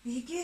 Биһиги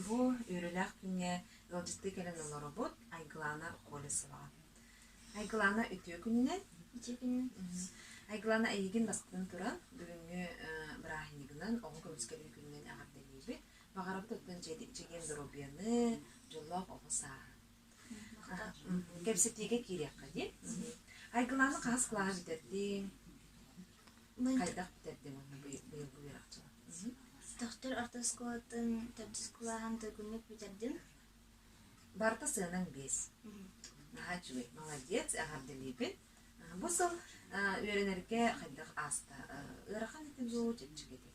бу үөрүүлээх күҥҥэ ыалдьыттыы кэлэн олоробут Айгылаана Колесова. Айгылаана үтүө күнүнэн. Үтүө күнүнэн. Айгылаана эйигин бастатан туран бүгүҥҥү бырааһынньыгынан оҕо көмүскэлин күнүнэн эҕэрдэлиибит. Баҕарабыт оттон чэгиэн доруобуйаны, дьоллоох оҕо сааһы. хата кэпсэтиигэ киириэххэ дии айгылааны хаһыс кылааш бүтэрдиҥ хайдах бүтэрдиҥ уонна быйылгы үөрэхчи Тохтор орто оскуолатын төрдүс кылааһын төркүммүт бүтэрдим. Барыта сыанаҥ биэс. Наһаа үчүгэй, молодец, эҕэрдэлиибин. Бу сыл үөрэнэргэ хайдах ааста? Ыарахан этин дуу, чэпчэки этин?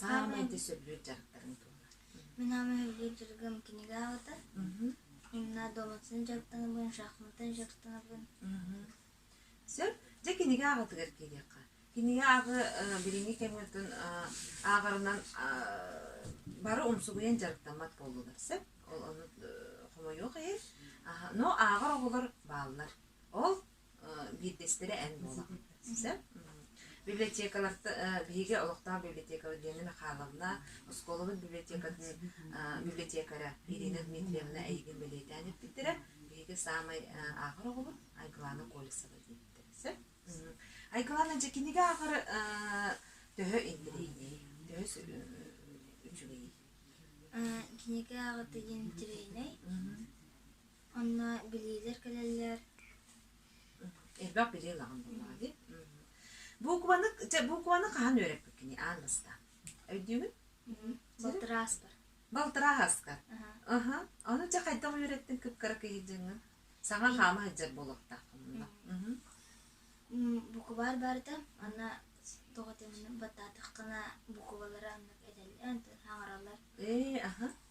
саамай да сөбүлүүр дьарыктарым туолар. Мин ама сөбүлүүр дьарыгым кинигэ аҕата. Имна доматсын дьарыктанабын, шахматтан дьарыктанабын. Сөп. Дьэ кинигэ аҕатыгар киириэххэ. Кинигэ ааҕы билиҥҥи кэмҥитин ааҕарынан бары умсугуйан дьарыктаммат буоллулар сөп. Ол ону хомойуох иһин. Но ааҕар оҕолор бааллар. Ол биирдэстэрэ эн буолан сөп библиотекаларга биһиги олохтоох библиотекабыт Диана Михайловна оскуолабыт библиотекарь библиотекаря Ирина Дмитриевна эйигин бэлиэтээн эппиттэрэ биһиги саамай ааҕар оҕобут Айгылана Колесова диэбиттэрэ сөп Айгылана дьэ кинигэ ааҕары төһө интэриэһий төһө үчүгэй кинигэ ааҕы интириэһинэй Онно билиилэр кэлэллэр. Элбэх билии ылаҕын буоллаҕа дии. Букваны, букваны хаһан үөрэппиккиний аан бастаан? Өйдүүгүн? Балтырааспар. Балтырааска? Аха. Ону дьэ хайдах үөрэттиҥ кыккара кыйдьыҥҥа? Саҥа хаама сылдьар буолуохтааххын онно. Букубаар барыта онно тоҕо дэнэн баттаатаххына букубалары аннык этэллэр, хаҥараллар. Ээ, аха.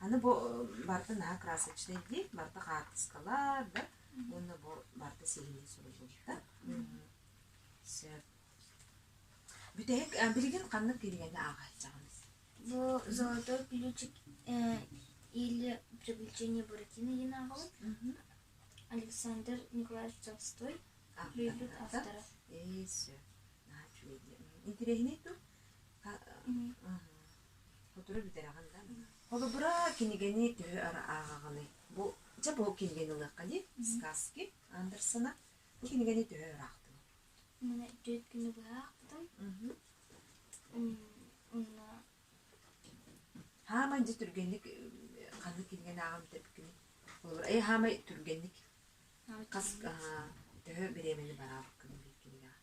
Аны бу барыта наһаа красочнай дии, барыта хаартыскалар да уонна бу барыта сиһилии суруллубута. Сөп. Бүтэһик э, билигин ханнык кинигэни ааҕааччаҕын? Бу «Золотой ключик» э, или «Приключения Буратино» йын ааҕабын. Александр Николаевич Толстой превьют автора. Ээ, сөп. Наһаа үчүгэй. Интересный ту. Сотору бүтэрэҕин да. Холобура, кинигэни төһө ара ааҕаҕыный? Бу дьэ бу кинигэни ылыахха дии. Сказки Андерсона. Бу кинигэни төһө ыраахтыҥ? Манна төрүт күнү быһа аахпытым. Онно Хаамай дьэ түргэнник ханнык кинигэни ааҕан бүтэрбиккиний? Холобур, эй хаамай түргэнник хас төһө бириэмэни бараабыккыный биир кинигэҕэ?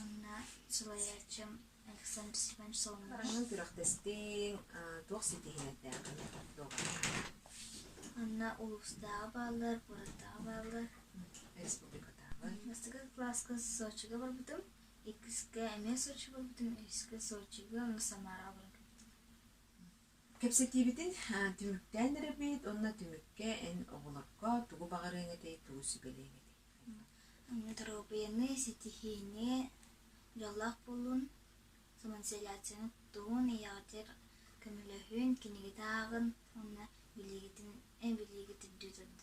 Онно салайааччым Александр Степанович Соломонов Күрэхтэстиҥ туох ситиһиилэрдээҕий? Онно улуустааҕы бааллар, куораттааҕы бааллар. Республикатааҕы. Бастакы кылааска Сочига барбытым. Иккискэ эмиэ Сочи барбытым. Үһүскэ Сочига, онно Самараҕа барбытым. Кэпсэтиибитин түмүктээн эрэрбит уонна түмүккэ эн оҕолорго тугу баҕарыаҥ этэй, тугу сүбэлиэҥ этэй? Доруобуйаннай ситиһиини, дьоллоох буолуун, самоизоляцияны туттуун, ийэҕитигэр көмөлөһүөн, кинигэтэ ааҕын уонна билиигитин, билиигит үрдүү турдун.